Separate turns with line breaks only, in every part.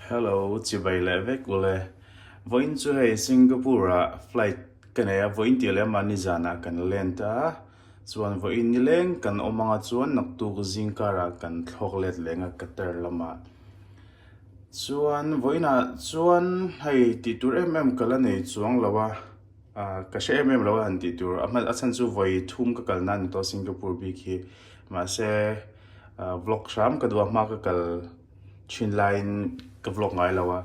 Hello, chibai leh vek u le. Vawiin chu hei Singapore-a flight ka nei a, vawiin tih leh mahni zanah kan land a, chuan vawiin ni leng kan awm anga chuan naktuk zing kara kan thlawk let leng a Qatar lama. Chuan vawiinah chuan hei tihtur em em ka la nei chuang lo a. Ah, ka hre em em lo a han tih tur a hman a chhan chu vawi thum ka kal nan ni tawh a Singapore bik hi. Mahse ah, vlog hram ka duh a hma ka kal thin laiin ka vlog ngai lo a.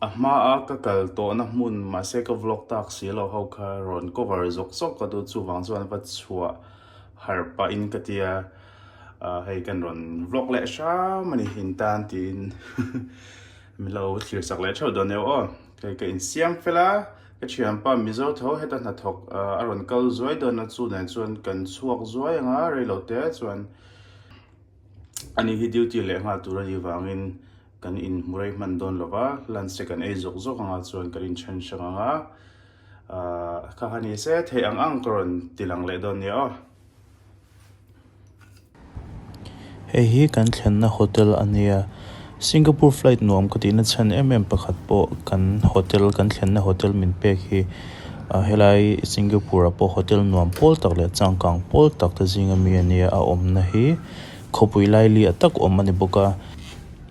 A hma a ka kal tawhna hmun mahse ka vlog tak si lo ho kha rawn cover zawk zawk ka duh chuvang chuan va chhuah harh pah in ka tia ah, hei kan rawn vlog leh hram a ni in tan tiin milo thlir chak leh theuh dawn eo aw. Hei ka in siam fel a, ka thianpa Mizo tho heta hnathawk a rawn kal zuai dawn a, chu nen chuan kan chhuak zuai ang a, reilo te chuan ani hi duty leh nghal tur ani vangin kan in hmu rei hman dawn lova, lunch te kan ei zawk zawk anga chuan kan in then hrang ang a, ah kha ha ni se, theih ang ang ka rawn ti lang leh dawn nia aw. Hei hi kan thlenna hotel a nia. Singapore flight nuam ka tihna chhan em em pakhat pawh kan hotel kan thlenna hotel min pek hi ah helai Singapore ah pawh hotel nuam pawl tak leh changkang pawl tak te zing a mi a nia a awmna hi khawpui laili ah tak awm a ni bawk a.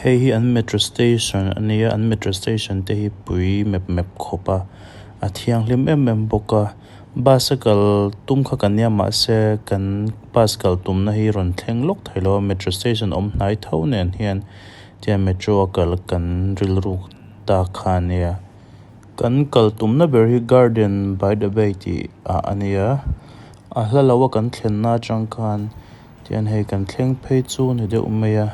Hei hi an metro station a ni a an metro station te hi pui mep mep khawp a a thianghlim em em bawk a bus a kal tum kha ka nia mahse kan bus kal tumna hi rawn thleng lawk thei lo a metro station awm hnai tho nen hian tihian metro a kal kan rilru ta kha a nia kan kal tumna ber hi garden by the bay tih ah a nia a hla lo a kan thlenna atang khan-- Tian hei kan thleng phei chu ni deuh mai a.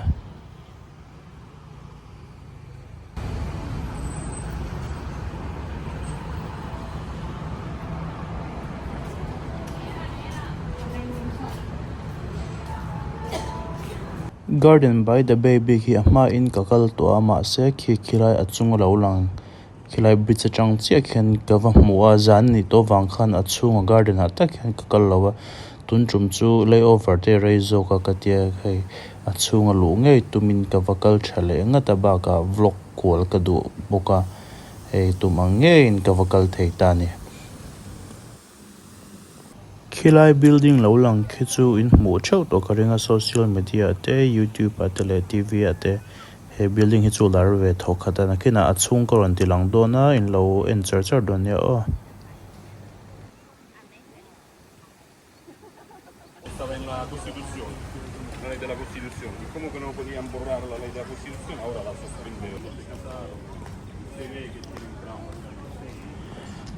Garden by the bay bik hi a hmain ka kal tawh a mahse khi khi lai a chung a lo lang. Khilai bridge atang chiah khian ka va hmu a, zan ni tawh vang khan a chhunga garden ah tak hian ka kal lo a, tun tum chu lay over te rei zawk a ka tia hei a chhunga luh ngei tumin ka va kal tha leh ngat a bakah vlog kual ka duh bawk a, hei tum ang ngeiin ka va kal thei ta a ni. Khilai building lo lang khi chu in hmuh theuh tawh ka ring a, social media ah te, youtube ah te leh TV ah te he building hi chu lar ve tho khat a, nakhinah a chhung ka rawn ti lang dawn a, in lo en char char dawn nia aw.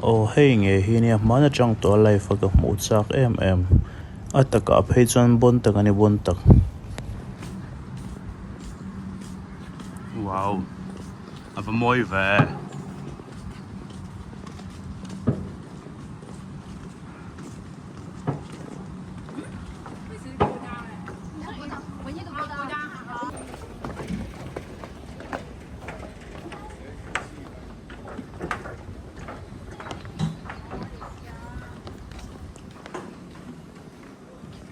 Aw hei nge hi nia hman atang tawh a life a ka hmuh chak em em a takah phei chuan bawn tak ani bawn tak. Wow a va mawi ve e.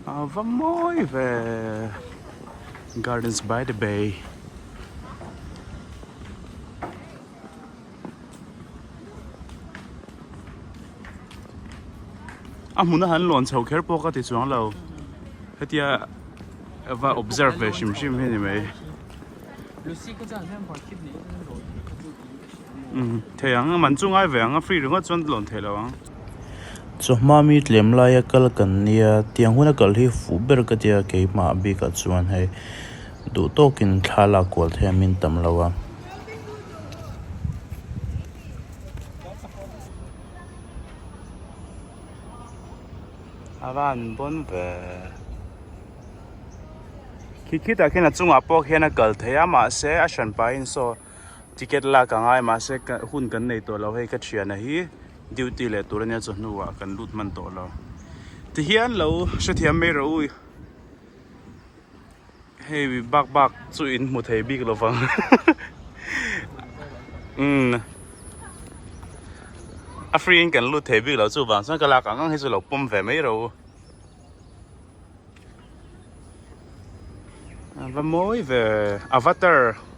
Ava mawi ve Gardens by the Bay a hmuna han lawn chho kher pawh ka ti chuang lo hetia va observe ve hrim hrim hi ni mai um thei ang a man chu ngai ve ang a free ringawt chuan lawn theih lo ang chawhma mi tlem laia kal kan nia tiang huna kal hi fuh ber ka tia keimah bikah chuan hei duh tawkin thla lak kual thei an min tam lo a. a van bawn ve khi khi tah khian a chungah pawh khian a kal thei a mahse a hran pahin saw ticket lak ang ai mahse ka hun kan nei tawh lo hei ka thianah hi duty leh tur ania chu hnua kan lut hman tawh lo ti hian lo hrethiam mai ro u. Hei mi bak bak chu in hmu thei bik lovang umm a free in kan lut thei bik lo chuvang chuan ka lak ang ang hi chu lo pawm ve mai ro a va mawi ve avatar.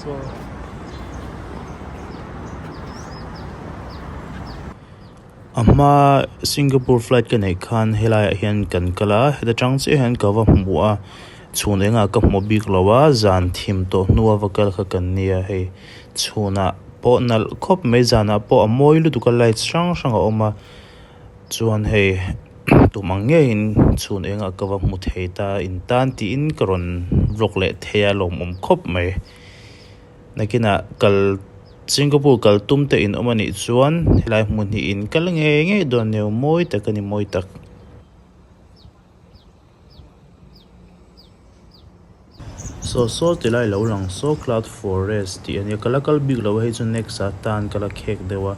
Sure. A hma Singapore flight ka neih khan helaiah hian kan kal a, heta tang chiah hian ka va hmu a, chhun engah ka hmu bik lo a, zan thim tawh hnu a va kal kha kan ni a, hei chhunah pawh nalh khawp mai, zanah pawh a mawi lutuk a, lights hrang hrang a awm a. Chuan hei tum ang ngeiin chhun engah ka va hmu thei ta in tan tiin ka rawn vlog leh thei a lawmawm khawp mai. Nakinah kal Singapore kal tum te in awm a nih chuan helai hmun hi in kal ngei ngei dawn neu mawi tak a ni mawi tak. Saw saw ti lai lo lang saw cloud forest tih a nia kal a kal bik lo a hei chu next a tan kal a khek deuh a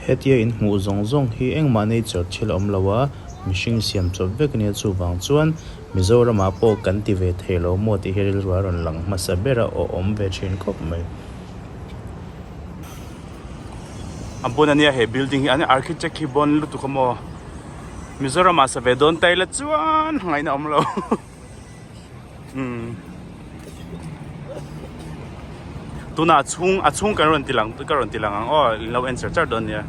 hetia in hmuh zawng zawng hi engmah nature thil a awm lo a mihring siam chawp vek a nia chuvang chuan Mizoram ah pawh kan ti ve thei lo maw tih hi rilru a rawn lang hmasa ber a aw awm ve thin khawp mai a bun a nia he building hi an architect hi bawn lutuk a maw. Mizoram ah save dawn ta ila chuan ngaih na awm lo umm tuna a chhung a chhung kan rawn ti lang ka rawn ti lang ang aw in lo en char char dawn nia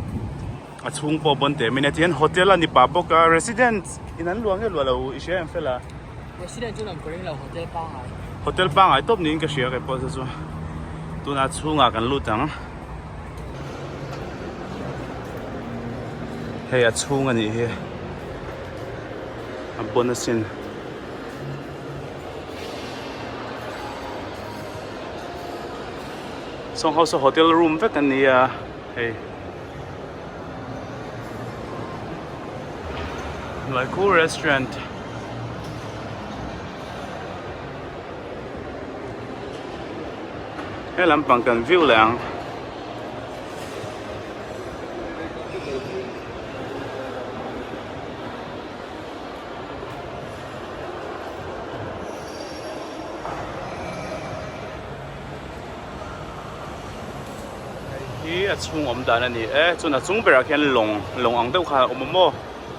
a chhung pawh bawn teh mania tihian hotel a ni pah bawk a resident in an luah nge luah lo i hria em fel a resident chu an kawring lo hotel pangai hotel pangai tawp niin ka hria ka pawh chu chu tuna a chhung ah kan lut ang hei a chhung a nih hi a bun a sin sawng ho saw hotel room vek a ni a hei Laikhu restaurant He lam pang kan viu leh ang. Hi a chhung awm dan a ni e, chun a chung berah khian lawng, lawng ang deuh khan a awm a maw?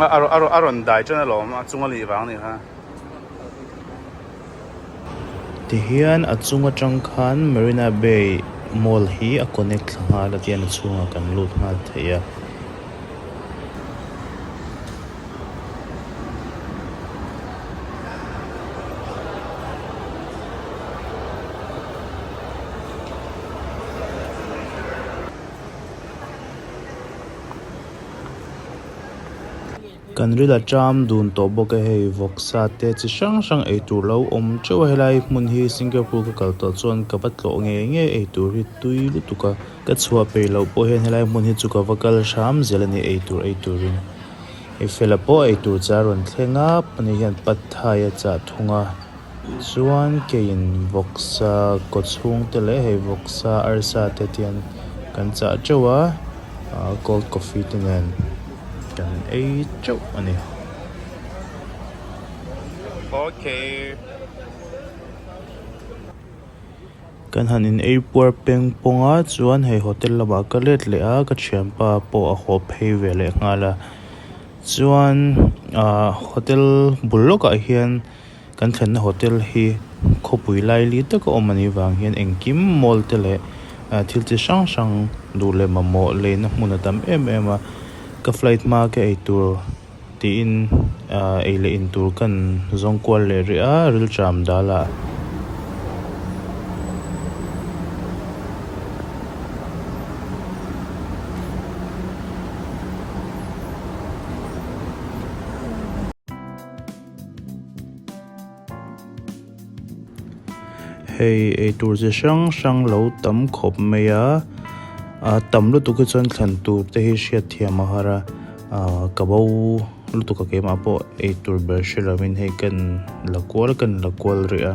a rawn dai ṭan alawm a chunga lih vang a ni kha. Tihian a chung atang khan Marina Bay Mall hi a connect thla nghal a tian a chhungah kan lut nghal thei a. Kan ri la ṭam dun tawh bawk e, hei vawk sa te chi hrang hrang ei tur lo awm ṭeuh a, helai hmun hi Singapore ka kal tawh chuan ka va tlawh nge nge ei tur hi tui lutuk a, ka chhuah peih loh pawh hian helai hmun hi chu ka va kal hram zel a ni ei tur ei turin i fela pawh ei tur cha rawn thleng a, a ni hian Pad Thai a chah thung a, Chuan keiin vawksa kaw chhungte leh hei vawksa arsa te tian kan chah teuh a, cold coffee te nen kan ei teuh a ni. Kan han in ei puar peng pawng a chuan hei hotel lamah ka let leh a, ka thianpa pawh a haw phei ve leh nghal a, chuan hotel bul lawkah hian. Kan thlenna hotel hi khawpui laili taka awm a nih vang hian engkim mall te leh thil chi hrang hrang duh leh mamawh leina hmun a tam em em a. Ka flight hma ka ei tur tiin ei leh in tur kan zawng kual leh rih a, rilṭam dala. Hei eitur chi hrang hrang lo tam khawp mai a, a tam lutuk hi chuan thlan tur te hi hriat thiam a har a, ka bo lutuk a keimah pawh eitur ber hre lovin hei ka in la kual ka in la kual rih a.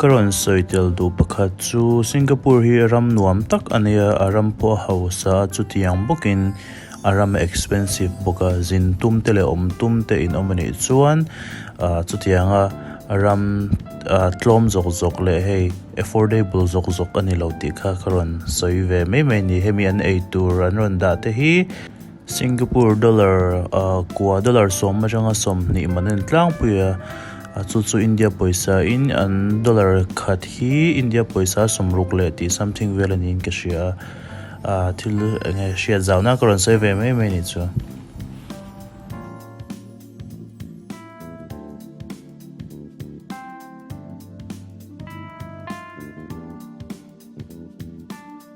Ka rawn sawi tel duh pakhat chu Singapore hi ram nuam tak a nia, a ram pawh a hausa a, chutiang bawkin a ram a expensive bawk a, zin tum te leh awm tum te in awm a nih chuan ah chutiang a ram ah tlawm zawk zawk leh hei affordable zawk zawk a ni lo tih kha ka rawn sawi ve mai mai a ni, hemi an eitur an rawn dah te hi. Singapore dollar a kua dollar sawm atanga sawmhnih man a ni tlangpui a, a chu chu India pawisa in an dollar khat hi India pawisa sawm ruk leh tih something vel a niin ka hria a, a thil eng nge hriat zau na ka rawn sawi ve mai mai nih chuan.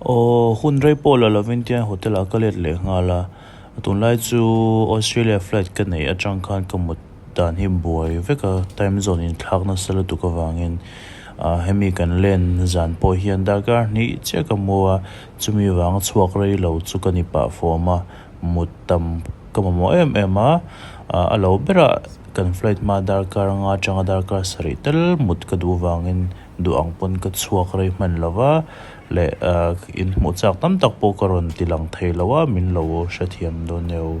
Aw, hun rei pawh la lovin tiang hotel ah ka let leh nghal a, tunlai chu Australia flight ka neih atang khan ka mut dan hi buai vek a, time zone in thlak nasa lutuk avangin ah hemi kan len zan pawh hian darkar hnih chiah ka hmu a, chumi vang chhuak rei lo chu ka ni pah fawm a, mut tam ka mamawh em em a, a lo berah kan flight hma darkar anga tanga darkar sarih tel mut ka duh vangin duh ang pawn ka chhuak rei hman lo va, leh in hmuh chak tam tak pawh ka rawn ti lang thei lo a, min lo hrethiam dawn neu.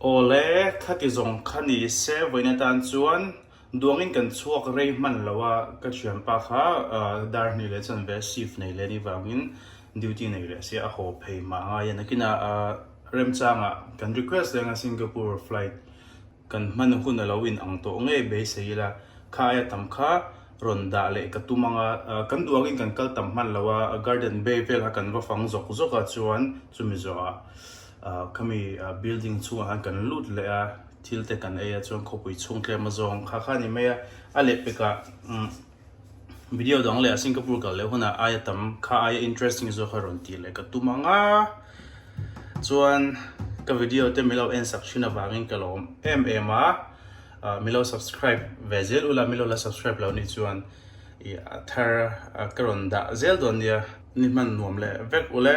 Awle, khati zawng kha ni se vawiin atan chuan duangin kan chhuak rei hman lo a, ka thianpa kha dar hnih leh chuan ve shift nei leh ni vangin duty nei leh se a haw phei hma ngai a, nakinah remchangah kan request leh anga Singapore flight kan hman hun a lo in ang tawh ngei beisei ila, kha aia tam kha rawn dah leh ka tum anga kan duak in kan kal tam hman lo a, garden bay vel ah kan va fang zawk zawk ah chuan chumi zawh ah khami building chhung ah khan kan lut leh a, thil te kan ei a chuan khawpui chhungtlem azawng kha kha ni mai a, a lehpek ah umm. video dang leh a Singapore kal leh huna aia tam kha aia interesting zawk kha rawn tih leh ka tum ang a chuan ka video te milo en sak thin avangin ka lo em em a milo subscribe ve zel ula milo la subscribe lo ni chuan i thar ka rawn dah zel dawn nia ni hman nuam leh vek ule